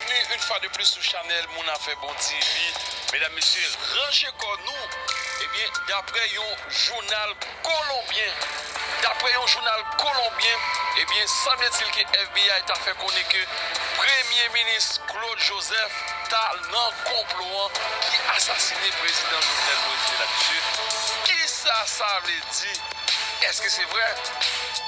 Byenvni yn fwa de plis sou chanèl moun afè bon TV medam mesye ranje kò nou ebyen daprè yon jounal kolonbyen daprè yon jounal kolonbyen ebyen sanbletil ke FBI ta fè konnen ke premye minis Claude Joseph ta nan konplo an ki asasine prezidan Jovenel Moïse medam mesye kisa sa vle di eske se vrè.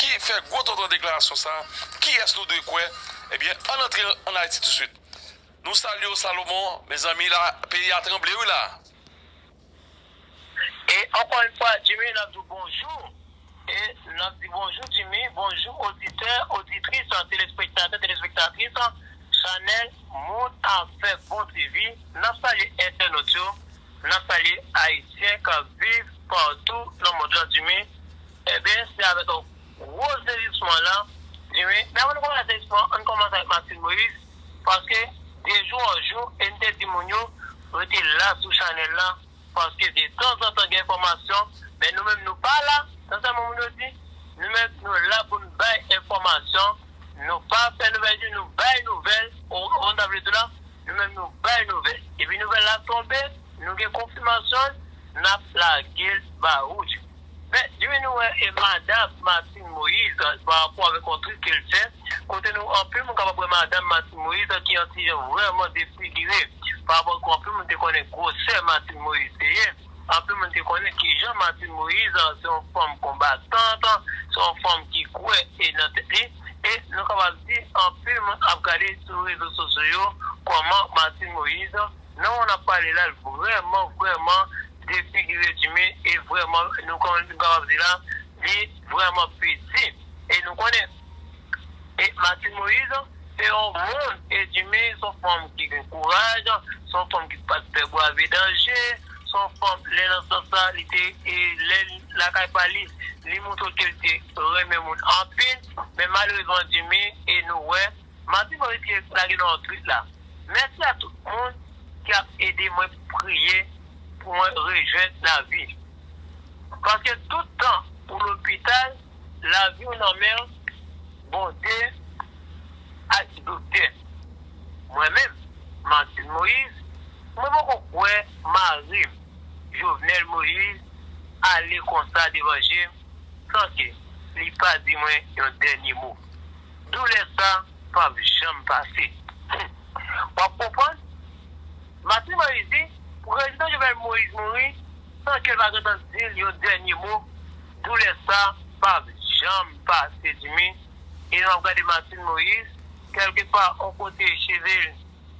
ki fè gwo tonton deklarasyon sa, kiyès nou dwe kwè, ebyen ann antre an Ayiti touswit. Nou salye w Salomon, mezanmi la peyi a tranble wi la. E ankò yn fwa Jimmy nap diw bonjou e nap di bonjou Jimmy bonjou oditè oditris telespektatè telespektatris chanèl moun afè bon TV nap salye entènot yo nap salye ayisyen kap viv patou nan mond lan Jimmy Enben, se avèk yon gwo sezisman la, di wi, men avan nou kòmanse ak sezisman, ann kòmanse ak Martine Moïse, paske de jou an jou, e m te di moun yo, rete la sou chanèl la, paske de tanzantan gen enfòmasyon, men nou menm nou pa la, sa sèlman moun yo di, nou menm nou la pou n bay enfòmasyon, nou pa fè nouvèl di, nou bay nouvèl, ou konprann sa m vle di w la, nou menm nou bay nouvèl, epi nouvèl la tonbe, nou gen konfimasyon l, n ap lage l ba ou. Mèt Djimi nou wè e madam Martine Moïse pa rapò avèk yon trik kel fè kote nou anpil moun kapab wè madam Martine Moïse ki yon ti jan vrèman defigire pa rapò ak anpil moun te konnen gwosè Martine Moïse te ye anpil moun te konnen ki jan Martine Moïse se yon fanm konbatant se yon fanm ki kwè e nan tèt li e nou kapab di anpil moun ap gade sou rezo sosyo yo kòman Martine Moïse Nan moman nap pale la l vrèman vrèman defigire dime e vrèman nou konn sa m kapab di la li vrèman piti e nou konnen e Martine Moïse se yon moun e dime se yon fanm ki gen kouraj se yon fanm ki pat pè bwave danje se yon fanm lè nan sans sa li te e lè l lakay pa li li montre ke l te renmen moun anpil men malerezman dime e nou wè. Madi mwen ret gen esplage nan yon tweet la. Mèsi a tout moun ki ap ede mwen pou priye pou mwen rejwenn lavi. Paske tout tan ou lopital laviw nan men Bondye ak doktè. Mwen menm Martine Moïse mwen poko kwè marim Jovenel Moïse ale konsa devan jem san ke li pa di mwen yon dènye mo. Doulè sa pap janm pase. Humm. Wap konprann? Martine Moïse di, Prezidan Jovenel Moïse mouri san kel pa gentan dil yon dènye mo, doulè sa pap janm pase di mi e lèm ap gade Martine Moïse, kèlkeswa yon kote chevel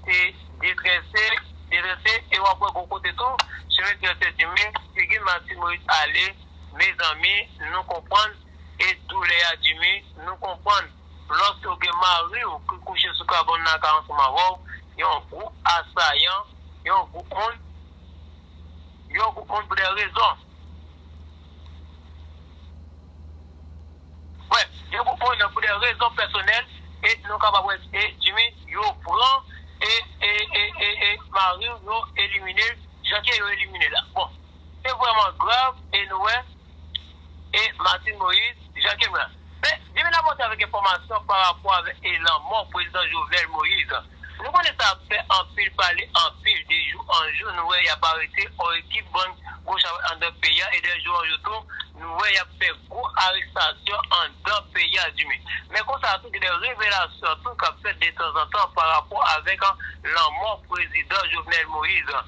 te detrese, detrese e wap wè gon kote tou chevel trese di mi figi Martine Moïse ale mezanmi nou konprann. E doulè a Jimmy, nou konprann, lòske ou gen mari ou ki kouche sou kabon nan lakay ansanm avè w, yon gwoup asayan, yon gwoup moun, yon gwoup moun pou dè rezon. Brèf, yon gwoup moun pou dè rezon pèsonèl, e nou kapab wè e Jimmy, yo pran e, e, e, e, e mari w, yo elimine l, jan ke yo elimine l la. Bon, se vrèman grav e nou wè. e Martine Moïse, Jean Kemran. Men, depi n ap monte avèk enfòmasyon pa rapò avèk e lanmò Prezidan Jovenel Moïse, nou konnen sa ap fè anpil pale anpil de jou an jou nou wè y ap arete on ekip bann gochavant anndan peyi a e de jou an jou tou nou wè y ap fè gwo arestasyon anndan peyi a di mwen. Men konsa tou gen de revelasyon tou k ap fèt detanzantan pa rapò avèk lanmò Prezidan Jovenel Moïse.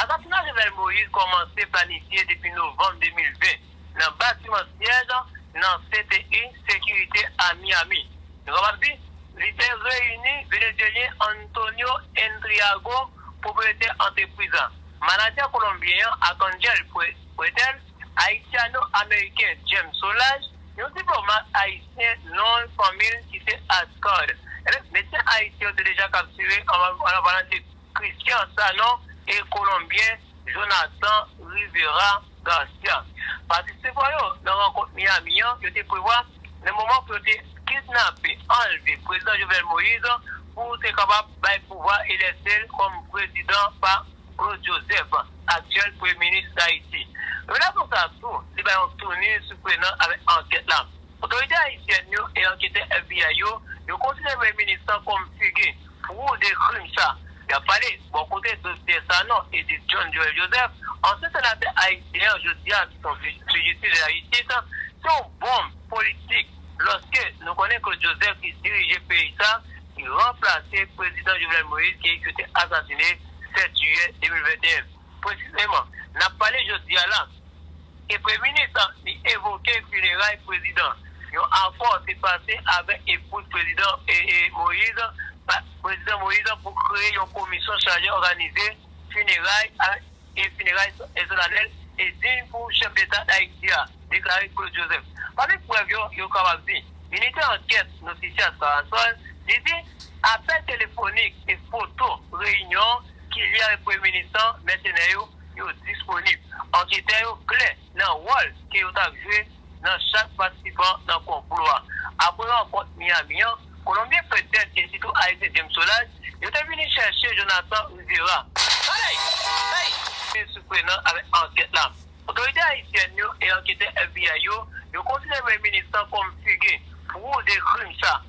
Asasina Jovenel Moïse kòmanse planifye depi novanm 2020 nan batiman syèj nan CTI, Sekirite a Miami. Nou kapab di, li te reyini Venezyelyen Antonio Entriago, pwopriyetè antrepriz la, manadjè Kolonbyen an Arcangel Pretel, Ayisyano-Ameriken James Solage, yon diplomat Ayisyen non l fanmi l ki se Ascard. Medsen Ayisyen yo te deja kaptire anvan lanne 2020. Christian Sanon e Kolonbyen Jonathan Rivera Garcia. Patisipan yo nan rankont Miami an yo te prevwa nan moman pou yo te kidnape, anlve, Prezidan Jovenel Moise pou te kapab bay pouvwa elèkte l kòm prezidan pa Claude Joseph, aktyèl premye minis Dayiti. Relapon sa a tou te bay yon touni siprenan avèk ankèt la. Otorite ayisyèn yo e anketè FBI yo, yo konsidere premye minis lan kòm figi pou 2 krim sa y ap pale. Bò kote dosye Sanon Edith John Joël Joseph, ansyen senatè ayisyen an jodi a ki se yon fijiti de la jistis, se yon bonm politik lòske nou konnen Claude Joseph ki dirije peyi sa ki ranplase prezidan Jovenel Moïse ke yo te asasine 7 jiyè 2021. Presizeman, n ap pale jodi a la, se Premye Minis la ki evoke fineray Prezidan. Yon akò te pase avèk epouz Prezidan Moïse, Prezidan Moïse pou kreye yon komisyon chaje òganize fineray e fineray solanèl e diy pou Chèf Deta Dayiti a, deklare Claude Joseph. Pami prèv yo, yo kapab di, Inite ankèt Noticias Parasol, li di, apèl telefonik e foto reyinyon, Kilyè avèk premye minis lan, mèsenè yo, yo disponib. Anketè yo klè nan wòl ke yo tap jwe nan chak patisipan nan konplo a. Apre rankont Miyami an, Kolonbyen Fredtèt e sitou Ayisyen James Solage, yo te vini chèche Jonathan Rivera. Solage, Hey! te siprenan avèk ankèt la. Otorite ayisyèn yo e anketè FBI yo, yo konsidere premye minis lan kòm figi pwou de krim sa.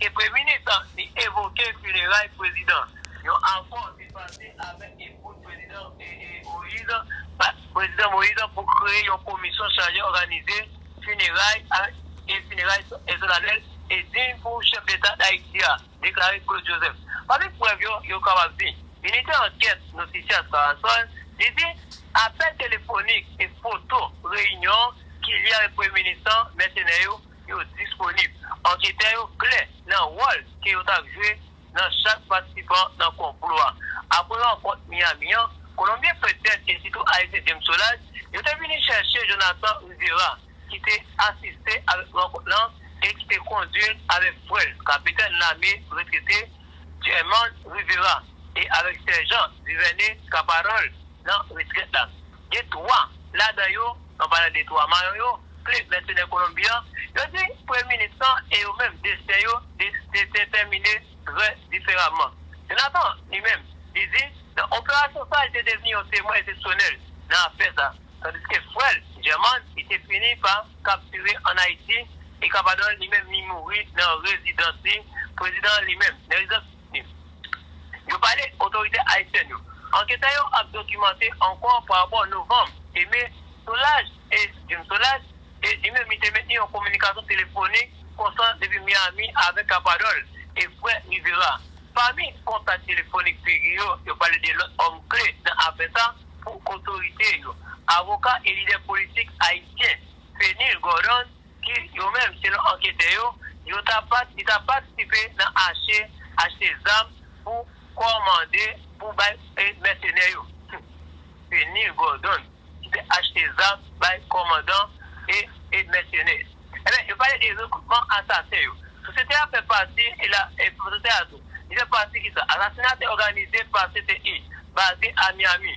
e premye minis la te evoke fineray prezidan yon akò te pase avèk epouz prezidan Moise prezidan Moise pou kreye yon komisyon chaje òganize fineray e fineray solanèl e diy pou chèf deta dayiti a deklare Claude Joseph pami prèv yo yo kapab di inite ankèt Noticias Parasol li di apèl telefonik e foto reyinyon kilya e premye minis lan mèsenè yo yo disponib. Anketè yo klè nan wòl ke yo tap jwe nan chak patisipan nan konplo a. Apre rankont Miyami an, Kolonbyen Pretèt e sitou Ayisyen James Solage, yo te vini chèche Jonathan Rivera ki te asiste avèk rankont lan e ki te kondwi l avèk frè l, Kapitèn lame retrete Germán Rivera e avèk Sèjan Duvernay Caparrol nan retrèt la. gen twa ladan yo, an palan de twa mayon yo, kle mèsenè Kolonbyen, yo di Premye Minis lan e yo menm desten yo te detèmine trè diferaman. Jonathan, li menm, li di nan operasyon sa a li te devni yon temwen eksepsyonèl nan afè sa a, tandiske frè l, Germán, li te fini pa kaptire ann Ayiti e kapadòl li menm li mouri nan rezidans li, prezidan an li menm, nan rezidans. Yo pale otorite ayisyèn yo. Anketè yo ap dokimante ankò pa rapò novanm Aimé Solages e Jim Solages e di menm li te mentni yon kominikasyon telefonik konstan depi Miami avèk Capadol e frè Rivera. Pami kontak telefonik figi yo, yo pale de lòt òm kle nan afè sa pou otorite yo. Avoka e lidè politik ayisyen Fenil Gordon Ki, yo menm, selon anketè yo, yo ta pat, ki ta patisipe nan ache, achte zam pou kòmande pou bay mèsenè yo. Hum! Se Neil Gordon ki te achte zam bay kòmandan e e mèsenè. Enben, yo pale de rekrutman asasen yo. Sosyete a fè pati e la e sosyete a tou. Li fè pati ki sa? Asasinatè òganize pa CTI, baze a Miami.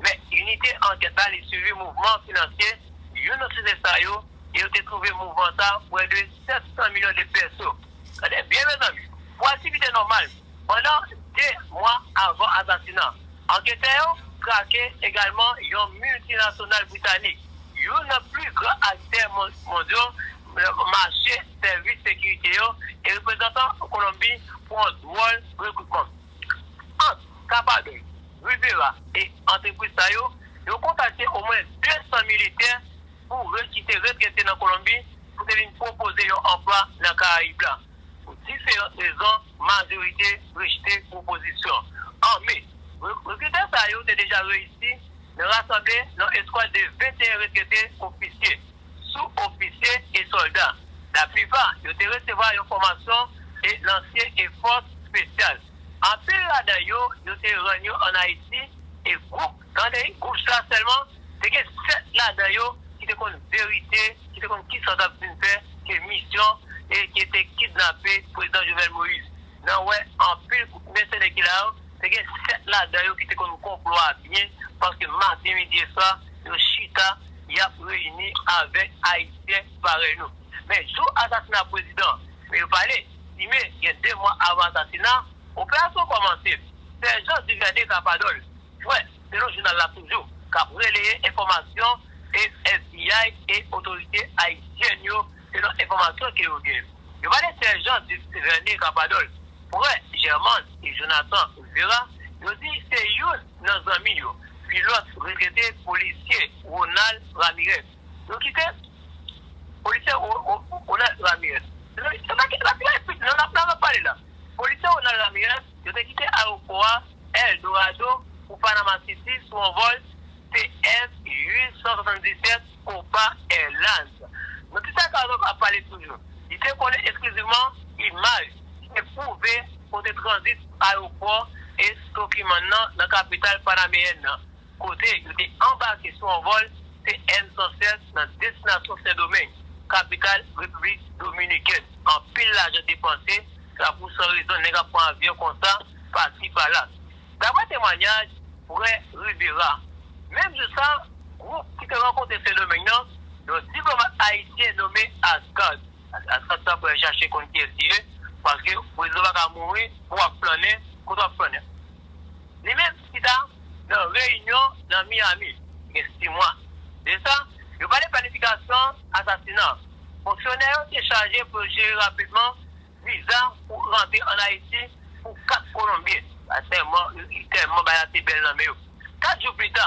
Men, inite ankèt la li suivi mouvman finansye youn nan sosyete sa yo e yo te twouve mouvman sa prè de 700 milyon de pèso. Tande byen mezanmi, pou aktivite nòmal pandan 2 mwa avan asasina an. Anketè yo trake egalman yon miltinasyonal britanik, youn nan pli gran aktè mondyal nan mache sèvis sekirite yo e reprezantan Kolonbi pou yon dwòl rekrutman. ant Kapadon, Ribera e antrepriz sa yo, yo kontakte omwen 200 militè pou re ki te retrese nan Kolonbi pou te vin pwopoze yon anplwa nan Karayib la. Pou diferant rezon, majorite rejte pwopozisyon an. Me, rekritè sa yo te deja reyisi nan rasanble yon eskwad de 21 retrete ofisye sou ofisye e sòlda. Laplipa yo te resevwa yon fòmasyon e lansye e fòs spesyal. Anpil ladan yo, yo te rann yo an Ayiti e gwoup, tande, gwoup sa sèlman, te gen 7 ladan yo ki te konn verite, ki te konn kisa yo t ap vin fè, ke misyon e ke te kidnape Prezidan Jovenel Moïse. Nan wè anpil gwoup mèsenè ki la yo, te gen 7 ladan yo ki te konn konplo a byen paske maten, midi e swa, yo chita. y ap reyini avèk Ayisyen parèy nou. Men, jou asasina prezidan an, men yo pale, Sime, gen de mwa avan asasina a, operasyon kòmanse. Sèjan Duvernay Capadol, frè, selon jounal la toujou, k ap releye enfòmasyon FBI e otorite ayisyèn yo, selon enfòmasyon ke yo gen. Yo pale sèjan Duvernay Capadol, frè Germán e Jonathan Rivera, yo di se youn nan zanmi yo, pilòt retrete polisye Ronald Ramirez. Nou kite polisye Ronald Ramirez. Yo ta kite l ap lèd pitit. Nan sa n ap pale la, polisye Ronald Ramirez, yo te kite ayewopò a El Dorado pou Panama City sou yon vòl TF 877 Copa Airlines. Nan ki sa Carlos ap pale toujou? Li te kole esklizivman imaj ki te pwouve kote tranzit ayewopò Ace Coquiman nan nan kapital panameyèn nan, kote yo te anbake sou yon vòl CN 107 nan destinasyon Sendomeng, kapital Repiblik Dominikèn. Anpil lajan depanse, sa pou san rezon nèg ap pran avyon konsa pasi pala. Daprè temwanyaj frè Rivera, menm jou sa, gwoup ki te rankontre Sendomeng nan, yon diplomat ayisyen nome Asgard, Asgard sa pral chache konn kiyès li ye, paske prezidan pa ka mouri pou w ap flannen kote w ap flannen. Li menm ki chita nan reyinyon nan Miami, gen 6 mwa de sa, yo pale planifikasyon asasina an. Fonksyonè yo te chaje pou yo jere rapidman Viza pou rantre an Ayiti pou 4 Kolonbyen. Sa tèlman, tèlman bagay la te bèl nan men yo. 4 jou pita,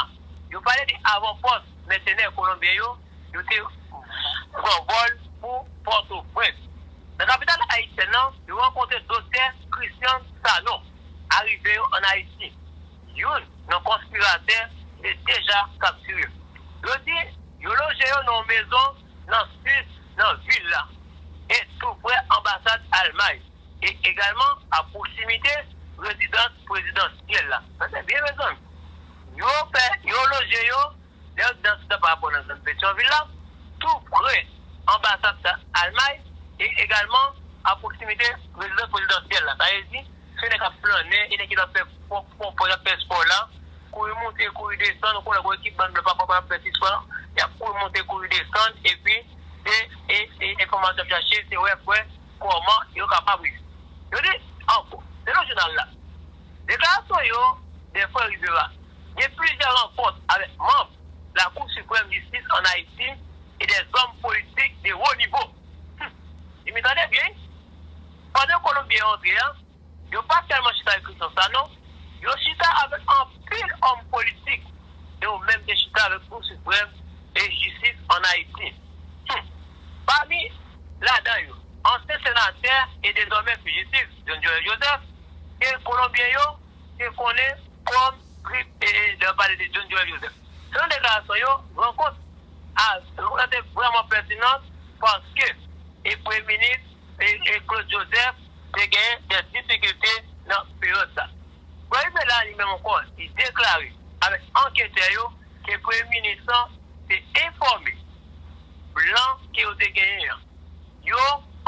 yo pale de avanpòs mèsenè Kolonbyen yo, yo te pran vòl pou Pòtoprens. Nan kapital ayisyèn nan, yo rankontre Doktè Christian Sanon. Arive yo an Ayiti, youn nan konspiratè te deja kaptire. Yo di yo loje yo nan yon mezon. nan sid nan vil la e tou prè anbasad Almay e egalman a pwoksimite rezidans prezidansyèl la. Tande byen mezanmi! Yo fè, yo loje yo, lè rezidans la pa bon nan zòn Petyonvil la, tou prè anbasad Almay e egalman a pwoksimite rezidans prezidansyèl la. Sa vle di. Se nèg kap flannen e nèg ki tap fè pwòp konpòy kap fè spò la, kouri moute kouri desann ou konnen bon ekip bann blòf apa kap fè ti spò yap kouri moute kouri desann epi se e enfòmasyon yap chache se wè yap wè kòman yo kapab rive yo di ankò selon jounal la deklarasyon yo de frè Rivera gen plizyè rankont avèk manb lakou siprèm jistis an Ayiti e de zòm politik de wo nivo humm Jimmy tande byen wi. Pandan Kolonbyen yo antre a, yo pa sèlman chita ak Christian sa non, yo chita avèk anpil òm politik, yo menm te chita avèk Kou Siprèm e Jistis ann Ayiti. Hum! Pami ladan yo, ansyen senatè e dezòmè fijitif John Joël Joseph, ke Kolonbyen yo te konnen kòm Trip e lè yo pale de John Joël Joseph. Selon deklarasyon yo, rankont a reprezante vrèman pètinans paske e Premye Minis, e Claude Joseph te gen dè difikilte nan peryòd sa. Premye minis la li menm ankò li deklare avèk anketè yo ke premye minis lan te enfòme plan ke yo te genyen an yo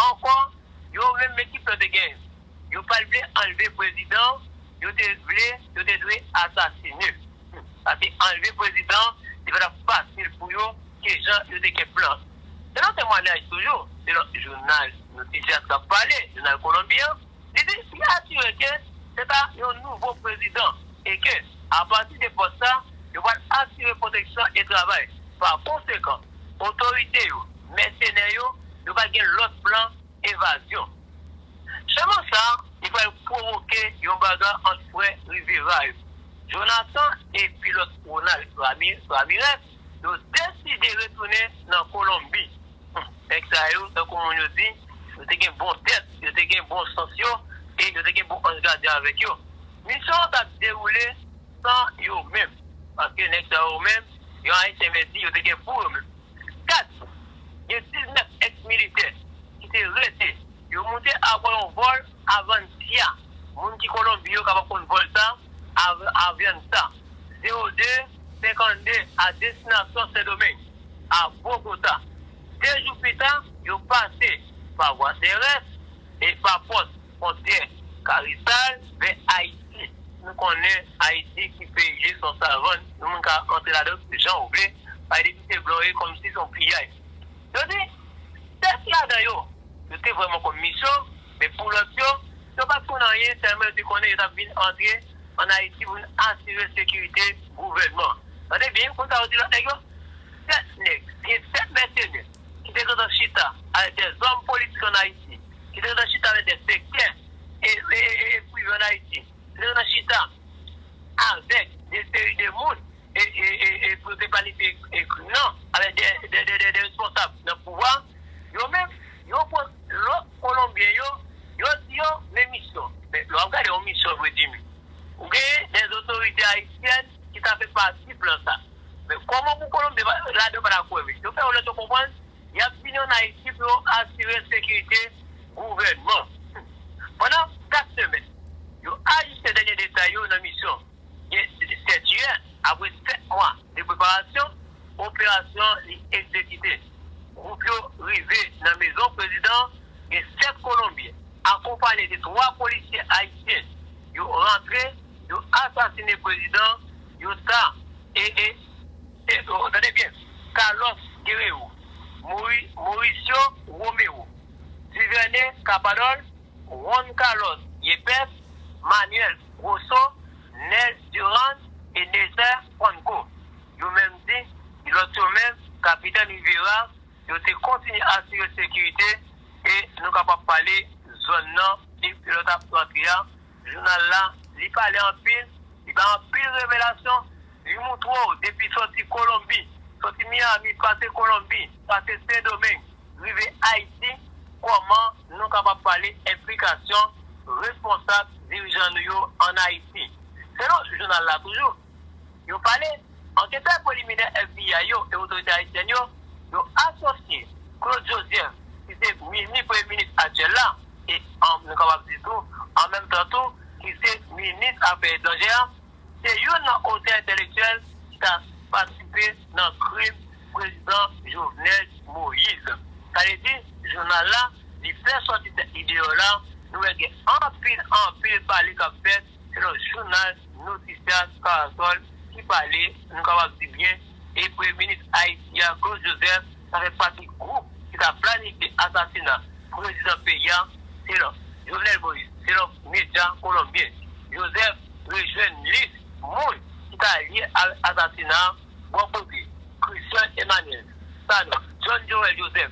ankò yo menm ekip yo te genyen. yo pat vle anlve prezidan yo te vle yo te dwe asasine paske anlve prezidan li pa tap fasil pou yo ke jan yo te gen plan selon temwanyaj toujou selon jounal noticias kap pale jounal kolonbi an li di li asire ke se ta yon nouvo prezidan e ke apati de pòs sa yo pral asire pwoteksyon e travay pa konsekan otorite yo mèsenè yo yo pa gen lòt plan evazyon. Sèlman sa, li pral pwovoke yon baga ant frè Rivera yo. Jonathan epi lòt Ronald Ramirez yo deside retounen nan Kolonbi. Nèg sa yo, tankou moun yo di, yo te gen bon tèt, yo te gen bon sans yo e yo te gen bon anj gadyen avèk yo. Misyon an t ap dewoule san yo menm. Paske nèg sa yo menm, yon Ayisyen mèsi, yo te gen pou yo menm. Gad sa! Gen 19 ex-militè ki te rete. Yo moute avyon yon vòl avandia. Moun ki Kolonbi yo kapab konn vòl sa a, avyon sa. 02, 52 a destinasyon Sendomeng, a Bogota. De jou pita, yo pase pa vwa terès e pa pòs Fwontyè Karisaj vè Ayiti. Nou konnen Ayiti ki peyi son savann, yon moun ka antre ladan jan ou vle, bay depite blan yo kòm si son piyay. Yo di, sèt ladan yo. Yo te vrèman konn misyon, men pou lòt yo, yo pa t konn anyen, sèlman yo te konnen yo t ap vin antre ann Ayiti pou vin asire sekirite gouvènman. Tande byen, konn sa yo di lòt nèg yo, sèt nèg, gen sèt mèsenè. ki te gentan chita avèk dè zòm politik an Ayiti, ki te gentan chita avèk dè sektè prive an Ayiti, ki te gentan chita avèk de seri de moun pou yo te planifye krim nan, avèk dè responsab nan pouvwa, yo menm, yo pran lòt Kolonbyen yo, yo di yo men misyon. Men, lè w ap gade yon misyon vre Jimmy, ou gen dè otorite ayisyèn ki ta fè pati plan sa. Men kòman pou Kolonbyen ladan pa ta kwè mesye. Yo fè yon lèt yo konprann, y ap vini ann Ayiti pou yo asire sekirite gouvènman pandan 4 semèn. Yo ajiste dènye detay yo nan misyon gen 7 jiyè apre 7 mwa de preparasyon operasyon li egzekite. Gwoup yo rive nan mezon prezidan an gen 7 Kolonbyen akonpaye de 3 polisye ayisyen. Yo rantre Yo asasine prezidan yo sa e e e o tande byen Carlos Guerrero, Mori Mauricio Romero, Duverne Capadol, Juan Carlos Yepes, Manuel Grosso, Nez Durán e Nezer Franco. Yo menm di pilòt yo men Kapitèn Rivera yo te kontinye asire sekirite e nou kapab pale zòn nan e pilòt ap rantre a. Jounal la, li pale anpil, li bay anpil revelasyon, li moutre w depi sòti Kolonbi, sòti Miyami, pase Kolonbi, pase Sendomeng, rive Ayiti, kòman nou kapab pale enplikasyon responsab dirijan nou yo an Ayiti. Selon jounal la toujou, Yo pale, Anketè preliminè FBI yo e otorite ayisyèn yo, yo asosye Claude Joseph ki se mimi premye minis aktyèl la e nou kapab di tou an menm tan tou ki se minis afè etranjè a, se youn nan otè entelektyèl ki ta patisipe nan krim prezidan Jovenel Moise. Sa vle di, jounal la, li fè sòti tèt li deyò la, nou wè gen anpil anpil pale k ap fèt. Se yon jounal Noticias Caracol ki pale, nou kapab di byen, e premye minis Ayiti a, Claude Joseph, ta fè pati gwoup ki ta planifye asasina prezidan peyi a, selon Jovenel Moïse, selon medya kolonbyen. Joseph rejwenn lis moun ki ta lye ak asasina a bò kote Christian Emmanuel, sa donk John Joël Joseph,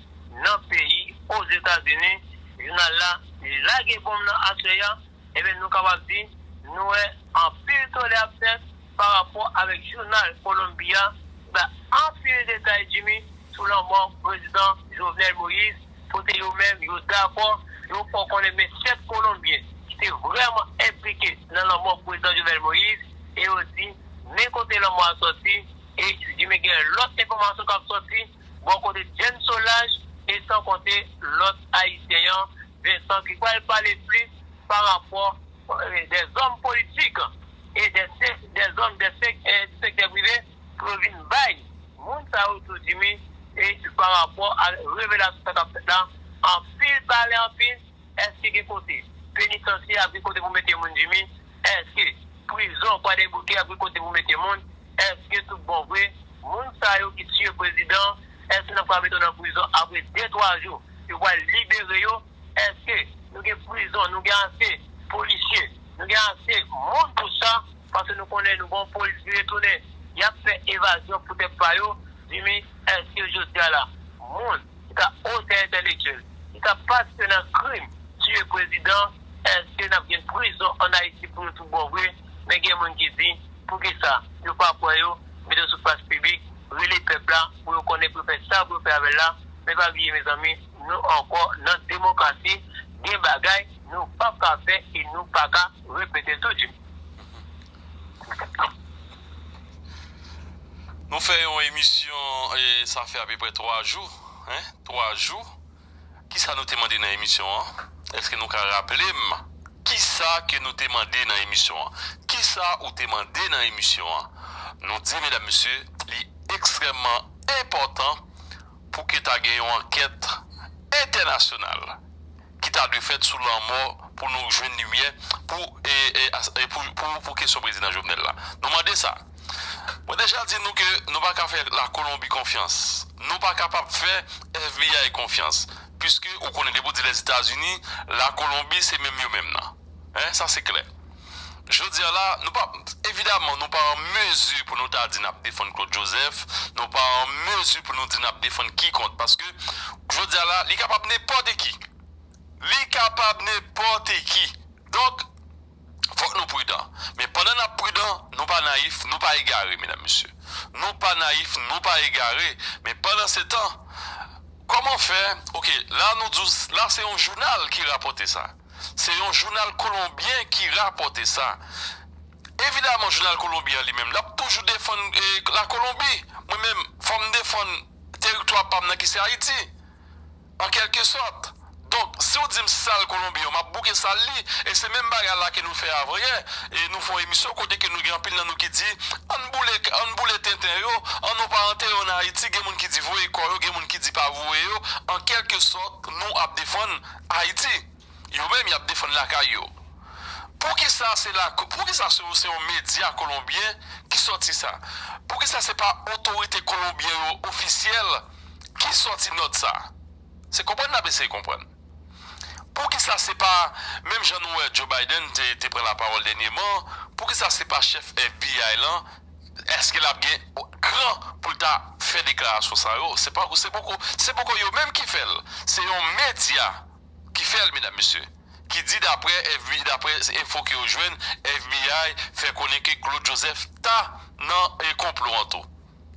nan peyi Ozetazini, jounal la lage bonm nan aswè a, enben nou kapab di nou wè anpil tole ap fèt pa rapò avèk jounal Kolonbi a ki bay anpil detay Jimmy sou lanmò prezidan Jovenel Moïse kote yo menm yo dakò yo fè w konnen men 7 kolonbyen ki te vrèman enplike nan lanmò prezidan Jovenel Moïse e yo di men kote lanmò a sòti e Jimmy gen lòt enfòmasyon kap sòti. bò kote Jhens Solange e san konte lòt Ayisyen an Vincent ki pral pale plis pa rapò dè zòm politik e dè zòm dè sektè prive pou yo vin bay moun sa yo tou Jimmy e pa rapò a revelasyon sa k ap fèt la anpil pale anpil Eske gen kote? Penitansye ap gen kote pou mete moun Jimmy? Eske? Prizon kwadèboukè ap gen kote pou mete moun? Eske tout bon vre? Moun sa yo ki tiye prezidan an eske nan pral mete yo nan prizon apre de twa jou yo pral libere yo? Eske nou gen prizon nou gen ase polisye nou gen ase moun pou sa paske nou konnen nou gen yon polis ki retounen yap fè evazyon pou tèt pa yo Jimmy eske jodia la moun ki ta otè entèlektyèl, ki ta patisipe nan krim tiye prezidan, eske nap gen prizon an Ayiti pou yo tout bon vre, men gen moun ki di poukisa yo pa pran yo mete yo sou plas piblik, rele pèp la pou yo konnen pou yo fè sa pou yo fè avèl la, men pa bliye mezanmi nou ankò nan demokrasi gen bagay nou pap ka fè e nou paka repete l tou di. Nou fè yon emisyon sa fè apeprè 3 jou hein 3 jou kisa nou te mande nan emisyon an eske nou ka raplem kisa ke nou te mande nan emisyon an kisa ou te mande nan emisyon an nou di medam mesye li ekstrèman enpòtan pou ke ta gen yon ankèt entènasyonal ki ta dwe fèt sou lanmò pou nou k jwenn limyè pou pou pou kesyon prezidan Jovenel la. Nou mande sa. Mwen deja di nou ke nou pa ka fè la Kolonbi konfyans. Nou pa kapab fè FBI konfyans. Piske ou konnen depi w di Lèzetazini, la Kolonbi se menm yo menm nan. Hein, sa se klè. Jodi a la, nou pa, evidaman nou pa an mezi pou nou ta di n ap defann Claude Joseph, nou pa an mezi pou nou di n ap defann kikont, paske jodi a la, li kapab nenpòte ki. Li kapab nenpòte ki. Donk, fòk nou pridan. Men pandan n ap pridan, nou pa nayif, nou pa egare, medam mesye. Nou pa nayif, nou pa egare. Men pandan se tan, kòman fè, oke, la nou di w, la se yon jounal ki rapòte sa. Se yon jounal kolonbyen ki rapòte sa. Evidaman jounal kolonbyen an li menm l ap toujou defann Lakolonbi. Mwen menm fò m defann teritwa pa m nan ki se Ayiti. An kèlke sòt. Donk si w di m sal kolonbyen yo m ap bouke sal li. E se menm bagay la ke nou fè avanyè. E nou fè yon emisyon kote ke nou gen anpil nan nou ki di ann boule ann boule tenten yo. An nou pa antere yo ann Ayiti. Gen moun ki di voye kò yo, gen moun ki di pa voye yo. An kèlke sòt nou ap defann. Ayiti. Yo menm yap defann lakay yo. Poukisa se la poukisa se se yon medya kolonbyen ki sòti sa? Poukisa se pa otorite kolonbyen yo ofisyèl ki sòti nòt sa? Se konprann nap eseye konprann. Poukisa se pa menm jan nou wè Joe Biden te te pran lapawòl dènyeman, poukisa se pa chèf FBI lan Eske lap gen kran poul ta fè deklarasyon sa yo se pa se poko se poko yo menm ki fèl se yon medya ki fèl medam mesye ki di daprè fbi daprè enfo ke yo jwenn fbi fè konnen ke Claude Joseph ta nan konplo an tou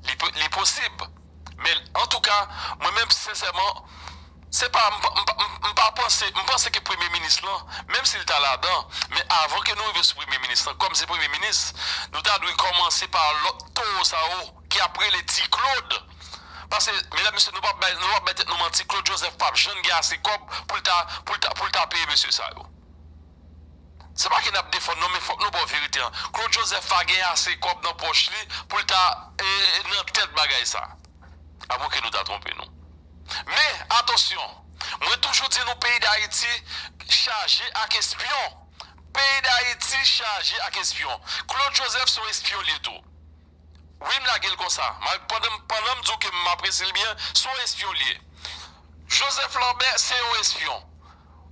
li posib. Men antouka mwen menm sensèman se pa m pa panse m panse ke premye minis lan menm si l ta ladan men avan ke nou rive sou premye minis lan kòm se premye minis nou ta dwe kòmanse pa lòt towo sa yo ki ap rele ti klod pase medam mesye nou pa bay nou pa bay tèt nou manti klod jozèf pap jann gen ase kòb pou l ta pou l ta pou l ta peye mesye sa yo. Se pa ke nap defann non men fòk nou baw verite an. Claude Joseph pa gen ase kòb nan pòch li pou l ta nan tèt bagay sa. A mwen ke nou ta twonpe nou. Men, atansyon, mwen toujou di nou peyi Dayiti chaje ak espyon. Peyi Dayiti chaje ak espyon. Claude Joseph se yon espyon li ye tou. Wi m lagel konsa pandan m di w ke m apresye l byen se yon espyon l ye Joseph Lambert se yon espyon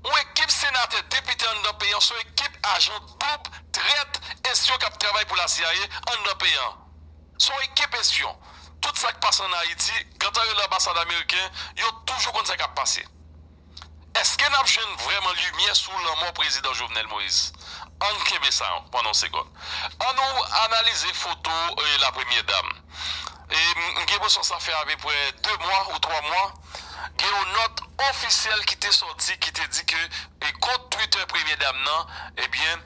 yon ekip senatè depite anndan peyi an se yon ekip ajan doub trèt espyon kap travay pou la cia anndan peyi an se yon ekip espyon tout sak pase an ayiti gentan rele anbasad ameriken yo toujou konn sa kap pase. Eske nap jwenn vrèman limyè sou lanmò prezidan Jovenel Moïse? Ann kenbe sa pandan yon segond. An nou analize foto la premyè dam. M gen enpresyon sa fè apeprè 2 mwa ou 3 mwa, gen yon nòt ofisyèl ki te sòti ki te di ke kont Twitter premyè dam nan ebyen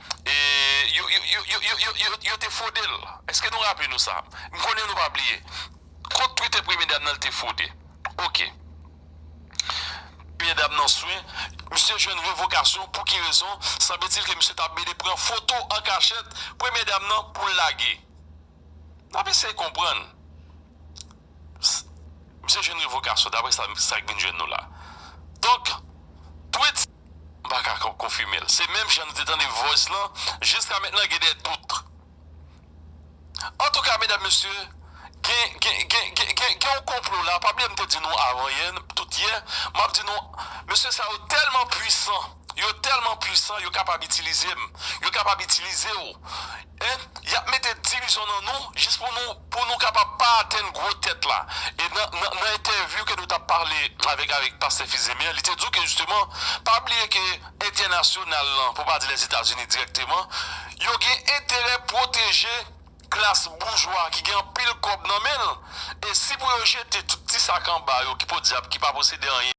yo te fwode l. Eske nou raple nou sa? M konnen nou pa bliye. Kont Twitter premyè dam nan te fwode. Ok. Pye dam nan swe, misye jwenn revokasyon pou ki rezon? Sanbletil ke misye ta mele pran foto an kachèt premye dam nan pou l lage. N ap eseye konprann. Misye jwenn revokasyon dapre sa k vin jwenn nou la. Donk twit m pa ka konfime l. Se menm jan nou te tande voice lan jiska mentnan gen de dout. Antouka medam mesye gen gen yon konplo la pa bliye m te di nou avan yè tout yè map di nou mesye sa yo tèlman pwisan yo tèlman pwisan yo kapab itilize m yo kapab itilize w yap mete divizyon nan nou jis pou nou pou nou kapab pa atenn gwo tèt la e nan nan entèvyou ke nou tap pale avèk avèk pastè Fils Aimé li te di w ke jisteman pa bliye ke entènasyonal lan, pou pa di Lèzetazini dirèkteman, yo gen enterè pwoteje klas boujwa ki gen anpil kòb nan men l, e si pou yo jete tout ti sa k anba yo ki podyab, ki pa posede anyen.